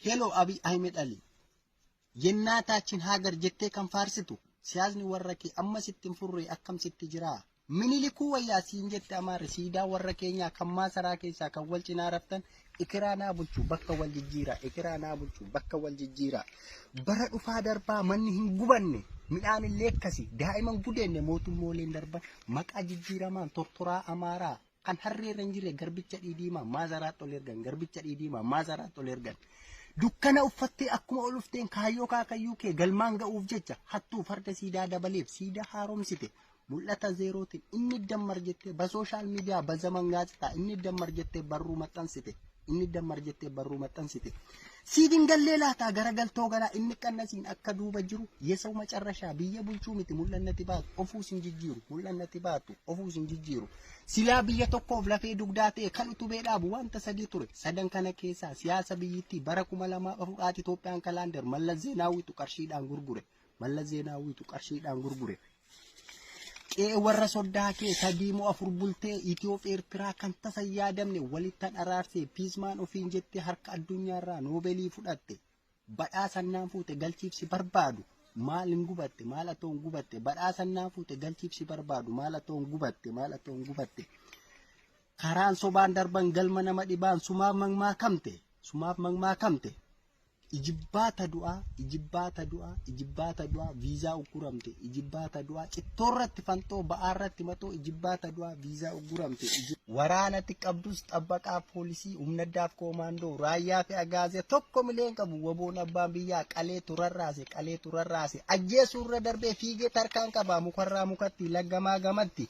Hello Abiy Ahmed Ali. Yennaa taachin haagar jettee kan faarsitu siyaasni warra kee amma sitti hin furre akkam sitti jira. Minilikuu wayyaa siin jette amaarri siidaa warra keenyaa kan maasaraa keessaa kan wal cinaa raftan ekeraa naa bulchu bakka wal jijjiira ekeraa naa bulchu bakka wal jijjiira. Bara dhufaa darbaa manni hin gubanne midhaan illee akkasi daa'iman gudeenne mootummooleen darban maqaa jijjiiramaan tortoraa amaaraa Kan harree irra hin jirre garbicha dhiidiimaa maazaraatti ol ergan garbicha dhiidiimaa maazaraatti ol ergan. Dukkana uffattee akkuma ol ufteen kaayyoo kaakayyuu kee galmaan ga'uuf jecha hattuu farda siidaa dabaleef siidaa haaromsite mul'ata zeerootiin inni dammar jettee ba sooshaal miidiyaa ba zaman gaazexaa inni dammar jettee barruu maxxansite. Inni dammar jettee barruu maxxansite. Siif hin gallee laataa garagaltoo garaa inni qannasiin akka duuba jiru yesawu macarrashaa biyya bulchuu miti mul'annati baatu ofuu sin jijjiiru mul'annati baatu ofuu sin jijjiiru. Silaa biyya tokkoof lafee dugdaa ta'e kan utubee dhaabu wanta sadii ture. Sadan kana keessaa siyaasa biyyittii bara kuma lamaaf afur haati Itoophiyaan kalaandar Mallas Zeenaawwiitu qarshiidhaan gurgure. Mallas Zeenaawwiitu qarshiidhaan gurgure. Qe'ee warra soddaa kee sadii moo afur bultee Itiyoof Eertiraa kan tasa hin yaadamne walitti dharaarse piizmaan ofiin jettee harka addunyaarraa noobeelii fudhatte badhaasannaan fuute galchiibsi barbaadu maal hin gubatte maal atoon gubatte badhaasannaan fuute galchiibsi barbaadu maal atoon gubatte maal atoon gubatte karaan sobaan darban galma nama dhibaan sumaaf magmaakamte sumaaf magmaakamte Ijibbaata du'aa, ijibbaata du'aa, ijibbaata du'aa, viizaa ugguramte, ijibbaata du'aa, cittoorratti fanxoo, ba'aarratti maxoo, ijibbaata du'aa, viizaa ugguramte. Waraanatti qabdus xabbaqaa poolisii, humna addaaf koomaandoo, raayyaa fi agaazee tokko milee hin qabu. Waboon abbaan biyyaa qalee turarraase, qalee turarraase. Ajjeesuu irra darbee fiigee tarkaan qabaa mukarraa mukatti, laggamaa gamatti.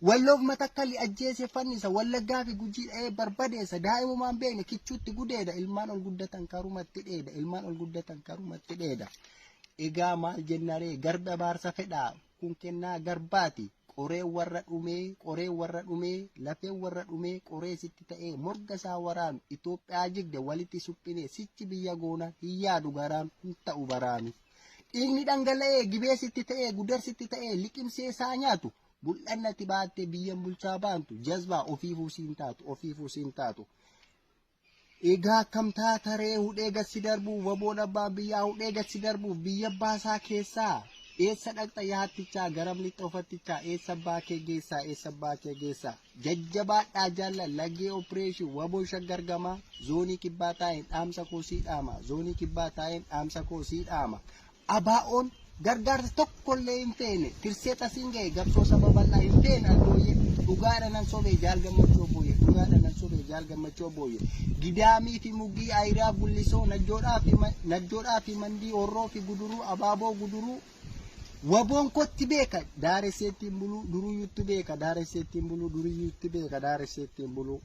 Walloof Matakkalli ajjeese fannisa, Wallaggaa fi Gujii dha'ee barbadeessa, daa'imumaan beekne kichuutti gudeeda, ilmaan ol guddatan karumatti dheeda, ilmaan ol guddatan karumatti dheeda. Egaa maal jennaree garbi abaarsa fedhaa kun kennaa garbaati. Qoree warra dhumee, qoree warra dhumee, lafee warra dhumee, qoree sitti ta'ee morga isaa waraanu Itoophiyaa jigde walitti suphinee sichi biyya goona hin yaadu garaan hin ta'u baraanu. Dhiigni dhangala'ee gibee sitti ta'ee gudar sitti ta'ee liqimsee isaa nyaatu Mul'annati baattee biyyan bulchaa baantu jazbaa ofiifuu siin taatu ofiifuu siin taatu. Egaa akkam taataree hudhee gassi darbuuf waboon abbaan biyyaa hudhee gassi darbuuf biyya baasaa keessaa eessa dhaqxa yaattichaa garam lixxa ofattichaa eessa abbaa kee geessaa eessa abbaa kee geessaa jajjabaadhaa jaalla lagee opereeshin waboo shaggar gamaa zoonii kibbaa taa'een dhaamsa koo sii dhaama zoonii kibbaa taa'een dhaamsa koo sii dhaama ABOn gargaarsa tokkollee hin feene tirsee tasiin gahe gabsoo saba bal'aa hin feene abbooyyee dhugaadha nan sobee jaal gammachuu abbooyyee dhugaadha nan sobee jaal gammachuu abbooyyee gidaamii fi mugii ayiraa gullisoo najjoodhaa fi ma- najjoodhaa fi mandii horroo fi guduruu abaaboo guduruu waboon kotti beeka daaresseettiin buluu duruyyuutti beeka daaresseettiin buluu duruyyuutti beeka daaresseettiin buluu.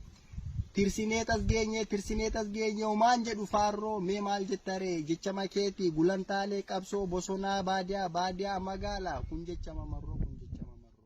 Tirsimeet as geenye tirsimeet as geenye homaan jedhu faarroo mee maal jetta ree jechama keeti gulantaalee qabsoo bosonaa baadiyaa baadiyaa magaalaa kun jechama marroo kun jechama marroo.